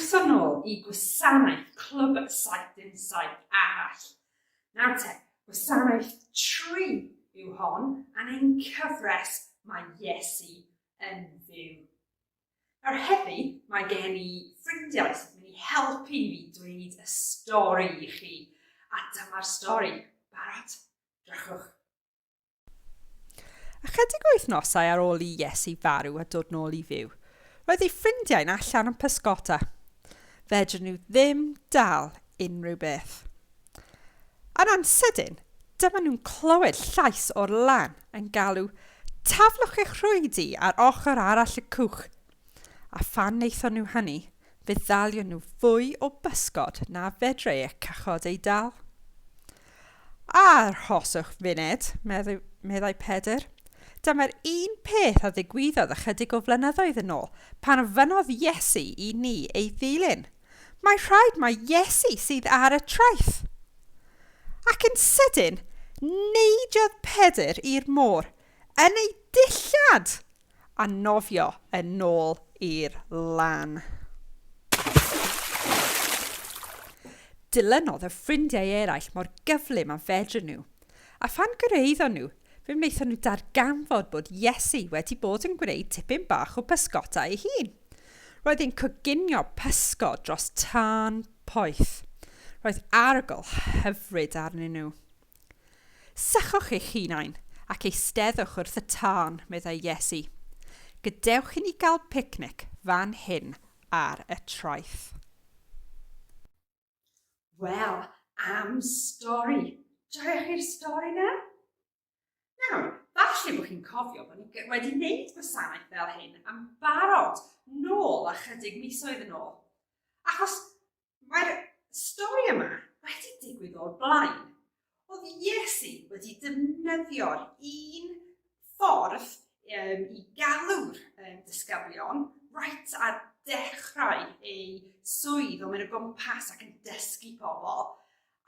Croeso nôl i gwasanaeth Clwb Saith Dim Saith arall. Nawr te, gwasanaeth tri yw hon, a'n ein cyfres mae Iesu yn fyw. Nawr heddi, mae gen i ffrindiau sy'n mynd i helpu fi dweud y stori i chi. A dyma'r stori. Barod? Drychwch. Ychydig o wythnosau ar ôl i Iesu farw a dod nôl i fyw, roedd ei ffrindiau'n allan yn pysgota. Fedrwn nhw ddim dal unrhyw beth. Yn ansydyn, dyma nhw'n clywed llais o'r lan yn galw, Taflwch eich rhwydi ar ochr arall y cwch! A phan wnaethon nhw hynny, fe ddalion nhw fwy o bysgod na fedrai y cychod ei dal. Arhoswch funed, meddai Pedr. Dyma'r un peth a ddigwyddodd ychydig o flynyddoedd yn ôl, pan ofynnodd Iesu i ni ei ddilyn. Mae rhaid mai Iesu sydd ar y traeth. Ac yn sydyn, neidiodd Pedr i'r môr yn ei dillad a nofio yn ôl i'r lan. Dilynodd y ffrindiau eraill mor gyflym a fedryn nhw, a phan gyrhaeddon nhw, fe wnaethon nhw darganfod bod Iesu wedi bod yn gwneud tipyn bach o bysgota ei hun. Roedd hi'n coginio pysgod dros tân poeth. Roedd arogl hyfryd arnyn nhw. Sychwch eich hunain ac eisteddwch wrth y tân, meddai Iesu. Gadewch i ni gael picnic fan hyn ar y traeth. Wel, am stori. Joiwch chi'r stori na? Nawr, falle bod chi'n cofio bod ni wedi gwneud gwasanaeth fel hyn am barod nôl a chydig misoedd yn ôl. Achos mae'r stori yma wedi digwydd o'r blaen. Oedd Iesu wedi defnyddio'r un ffordd um, i galw'r um, disgyblion right ar dechrau ei swydd o mynd o gwmpas ac yn dysgu pobl.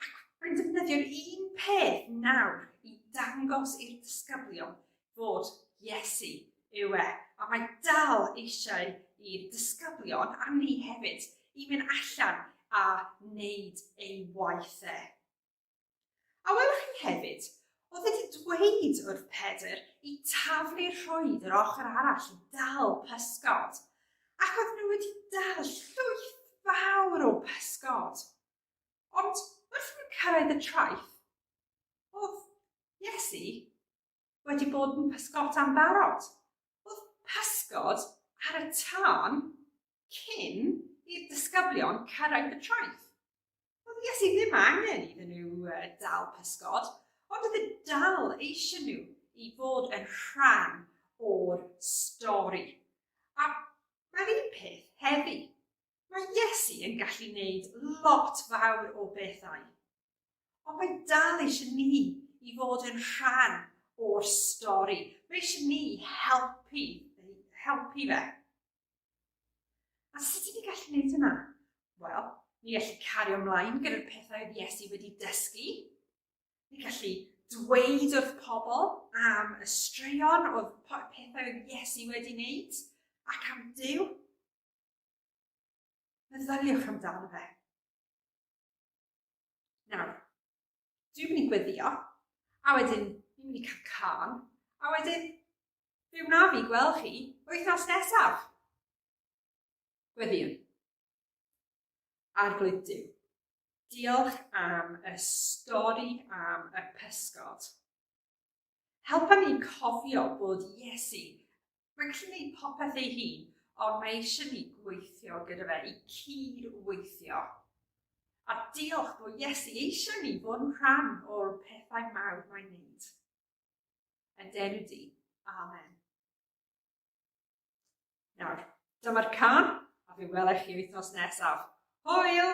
Ac mae'n defnyddio'r un peth nawr i dangos i'r disgyblion fod Iesu yw e. A mae dal eisiau i'r disgyblion, a ni hefyd, i mynd allan a wneud ei waith e. A welwch chi hefyd, oedd wedi dweud wrth Pedr i taflu rhwydd yr ochr arall i dal pysgod, ac oedd nhw wedi dal llwyth fawr o pysgod. Ond wrth i nhw cyrraedd y traeth, oedd Iesu wedi bod yn pysgota'n barod. Oedd pysgod ar y tân cyn i'r disgyblion cyrraedd y traeth. Oedd Iesu ddim angen iddyn nhw dal pysgod, ond oedd e dal eisiau nhw i fod yn rhan o'r stori. A mae'r un peth heddi. Mae Iesu yn gallu gwneud lot fawr o bethau, ond mae dal eisiau ni i fod yn rhan o'r stori. Mae eisiau ni helpu, helpu fe. A sut ydyn ni gallu gwneud hynna? Wel, ni gallu cario ymlaen gyda'r pethau oedd Iesu wedi dysgu. Ni gallu dweud wrth pobl am y straeon oedd pethau oedd Iesu wedi wneud ac am Dyw. Meddyliwch amdano fe. Nawr, dwi'n mynd i gweddio, a wedyn dwi'n mynd i cael can, a wedyn fe wna fi gweld chi wythnos nesaf. Gweddiwn. Arglwydd Dyw, diolch am y stori am y pysgod. Helpa ni cofio bod Iesu yn gallu gwneud popeth ei hun, ond mae eisiau ni gweithio gyda fe i cyd-weithio. A diolch bod Iesu eisiau ni fod yn rhan o'r pethau mawr mae'n gwneud. Yn denu di. Amen. Nawr, dyma'r can, a fe welech chi wythnos nesaf. Hwyl!